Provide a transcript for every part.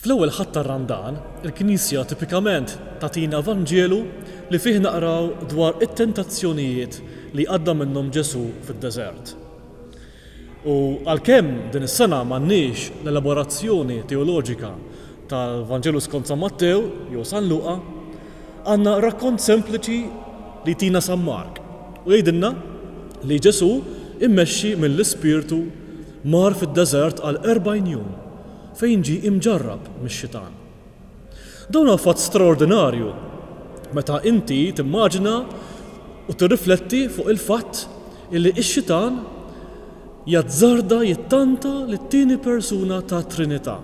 Fl-ewwel Ħadd tar-Randan, il-Knisja tipikament tagħtina Vanġelu li fih naqraw dwar it-tentazzjonijiet li għadda minnhom Ġesù fid-deżert. U għalkemm din is-sena m'għandniex l-elaborazzjoni teoloġika tal-Vanġelu skont San Mattew jew San Luqa, għandna rakkont sempliċi li jtina San Mark u jgħidilna li Ġesù mmexxi mill-Ispirtu Mar fid-deżert għal erbgħin jum fejn ġie imġarrab mix-Xitan. Dan huwa fatt straordinarju meta inti timmaġina u tirrifletti fuq il-fatt illi x-Xitan jazzarda jittanta lit-tieni persuna tat-Trinità.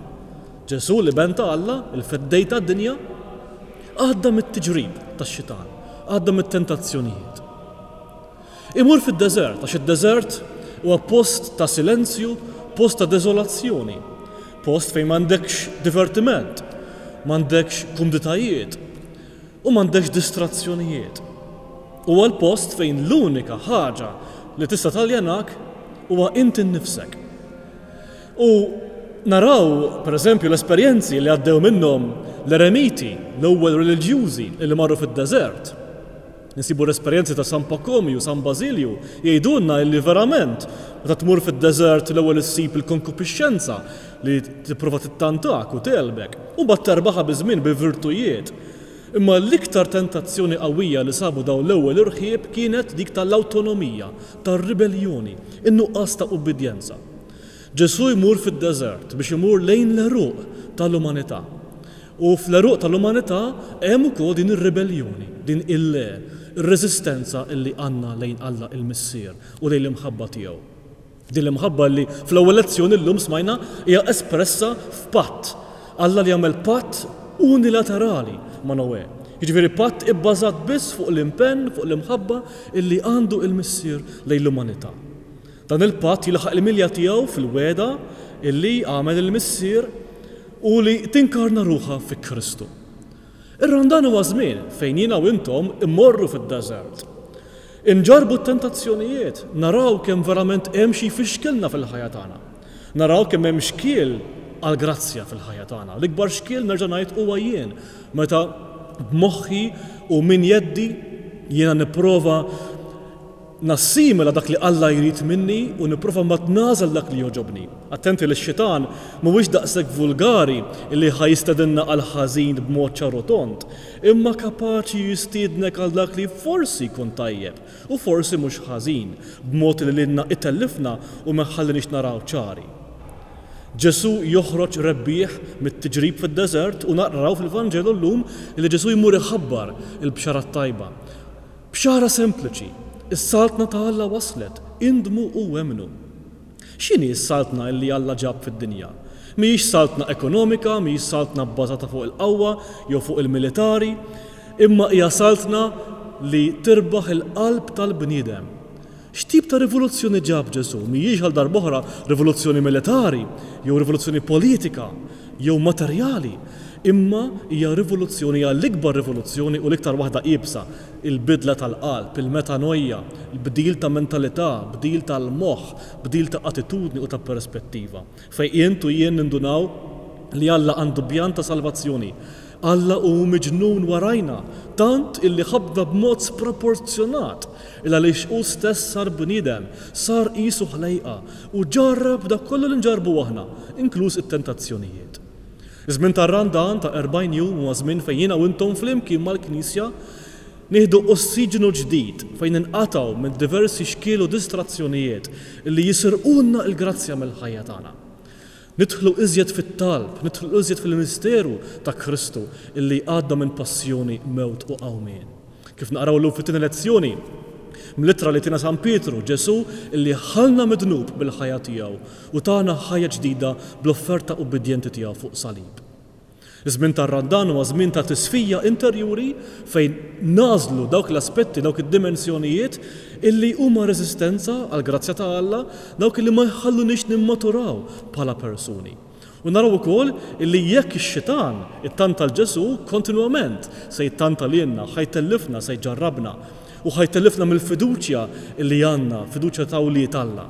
Ġesù, l-Iben ta' Alla, il-Feddej tad-dinja, għadda mit-tiġrib tax-Xitan, għadda mit-tentazzjonijiet. Imur fid-deżert, għax id-deżert huwa post ta' silenzju, post ta' deżolazzjoni, post fejn m'għandekx divertiment, m'għandekx kumditajiet u m'għandekx distrazzjonijiet. Huwa l-post fejn l-unika ħaġa li tista' taljenak huwa inti nnifsek. U naraw, per eżempju, l-esperjenzi li għaddew minnhom l-eremiti, l-ewwel reliġjużi li marru fid-deżert. Insibu l-esperjenzi ta' San Pakomju u San Bażilju jgħidulna illi verament meta tmur fid-deżert l-ewwel issib il-konkupixxenza li tipprova tittantak u tegħlbek u mbagħad terbaħha biż-żmien bil-virtujiet. Imma l-iktar tentazzjoni qawwija li sabu dawn l-ewwel irħieb kienet dik tal-awtonomija, tar-ribelljoni, in-nuqqas ta' ubbidjenza. Ġesù jmur fid-deżert biex imur lejn l-għeruq tal-umanità. U fl-għeruq tal-umanità hemm ukoll din ir-ribelljoni, din il-'le', ir-reżistenza li għandna lejn Alla il-Missier u lejn l-imħabba tiegħu. Din l-imħabba li fl-ewwel lezzjoni llum smajna hija espressa f'patt. Alla li għamel patt unilaterali ma' Noè. Jiġifieri patt ibbażat biss fuq l-impenn, fuq l-imħabba li għandu il-Missier lejn l-umanità. Dan il-patt jilħaq il-milja tiegħu fil-wegħda li għamel il-Missier u li tinkarna ruħha fi Kristu. Ir-Randan huwa żmien fejn jiena u intom immorru fid-deżert. Inġarrbu t-tentazzjonijiet, naraw kemm verament hemm xi jfixkilna fil-ħajja tagħna. Naraw kemm hemm xkiel għall-grazzja fil-ħajja tagħna. L-ikbar xkiel nerġa' ngħid huwa jien, meta b'moħħi u minn jeddi jiena nipprova Nassimila dak li Alla jrid minni u nipprova mbagħad nagħżel dak li jogħġobni. Attenti li x-Xitan mhuwiex daqshekk vulgari li ħa jistedinna għall-ħażin b'mod ċar u tond, imma kapaċi jistiednek għal dak li forsi jkun tajjeb u forsi mhux ħażin, b'mod li lilna itellifna u ma jħalliniex naraw ċari. Ġesù joħroġ rebbieħ mit-tiġrib fid-deżert u naqraw fil-Vanġelu llum li Ġesù jmur iħabbar il-Bxara t-Tajba. Bxara sempliċi, Is-Saltna ta' Alla waslet, indmu u emmnu! X'inhi s-Saltna illi Alla ġab fid-dinja? Mhijiex Saltna ekonomika, mhijiex Saltna bbażata fuq il-qawwa jew fuq il-militari, imma hija Saltna li tirbaħ il-qalb tal-bniedem. X'tip ta' rivoluzzjoni ġab Ġesù? Mhijiex għal darb'oħra rivoluzzjoni militari, jew rivoluzzjoni politika, jew materjali, imma hija rivoluzzjoni, hija l-ikbar rivoluzzjoni u l-iktar waħda iebsa, il-bidla tal-qalb, il-metanoia, bdil ta' mentalità, bdil tal-moħħ, bdil ta' attitudni u ta' perspettiva. Fejn int u jien nindunaw li Alla għandu pjan ta' salvazzjoni. Alla hu miġnun warajna, tant illi ħabbna b'mod sproporzjonat, il-għaliex hu stess sar bniedem, sar qisu ħlejqa, u ġarrab dak kollu li nġarrbu aħna, inkluż it-tentazzjonijiet. Iż-żmien tar-Randan ta' 40 jum huwa żmien fejn jiena u intom flimkien mal-Knisja Nieħdu ossiġnu ġdid fejn ninqatgħu minn diversi xkiel u distrazzjonijiet li jisirqulna l-grazzja mill-ħajja tagħna. Nidħlu iżjed fit-talb, nidħlu iżjed fil-misteru ta' Kristu li jgħadda minn passjoni, mewt u qawmien. Kif naqraw illum fit-tieni lezzjoni mill-ittra li tiena San Pietru, Ġesù li ħallna mid-dnub bil-ħajja tiegħu u tana ħajja ġdida bl-offerta ubbidjenti tiegħu fuq salib. Iż-żmien tar-Randan huwa żmien ta' tisfija interjuri fejn nagħżlu dawk l-aspetti, dawk id-dimensjonijiet illi huma reżistenza għall-grazzja ta' Alla, dawk illi ma jħalluniex nimmaturaw bħala persuni. U naraw ukoll illi jekk ix-xitan ittanta 'l Ġesù, kontinwament se jittanta lilna, ħa jtellifna, se jġarrabna, u ħa jtellifna mill-fiduċja illi għandna, fiduċja ta' wlied Alla.